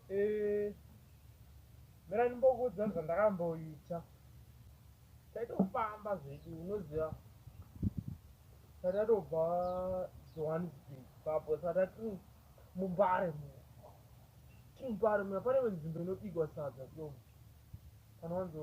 Eh, mira ndimbokuudza zvandakamboita taitofamba zvedu unoziva tatatobva johannesburg papo satati mumbare mu timbare muna pane nzvimbo inobigwa sadza so panowanzo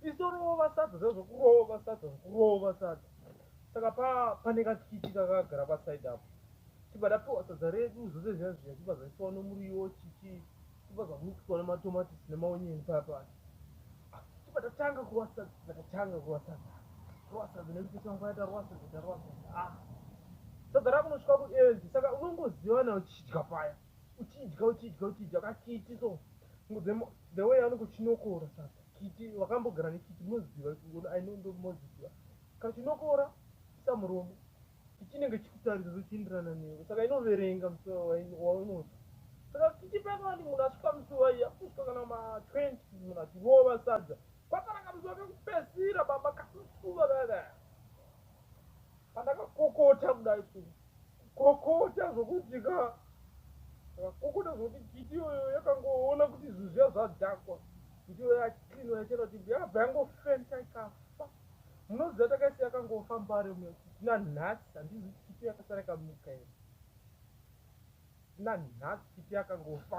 isitorova sadza zazvokurova sadza zvokurova sadza saka pa pane kakiti kakagara paside apo tibva tapiwa sadza redu zvose zviya zviya tibva zvaiswa nomuriwo chichi tibva zvamixwa nematomatisi nemaonyeni paya paya tibva tatanga kurova sadza tibva tatanga kurova sadza kurova sadza nekuti tangwaya tarova sadza tarova sadza ah sadza rakunosvika kuenzi saka unongoziva nawo chichidya paya uchidya uchidya uchidya ka kiti so the way anenge uchinokora sasa kiti wakambogara nekiti moziva i know ndo moziva kachinokora sa muromo kichinenge chikutarisa zvichienderana newe saka inoverenga musuva waunoti saka kiti pekani munhu asvika musuva iya kusvika kana ma 20 munhu achirova sadza kwakanaka musuva kekupesira baba kamusuva kakaya pandakakokota kudai suu Kokota zvokuti ka kokota zvokuti kiti iyoyo yakangoona kuti zvinhu zviya zvadhakwa kuti iyoyo yaclinwa yachena kuti yabva yangofenta ikafa munoziva takaisi yakangofa mbare ume kuti nanhasi handizi kuti kiti yakasara ikamuka here nanhasi kiti yakangofa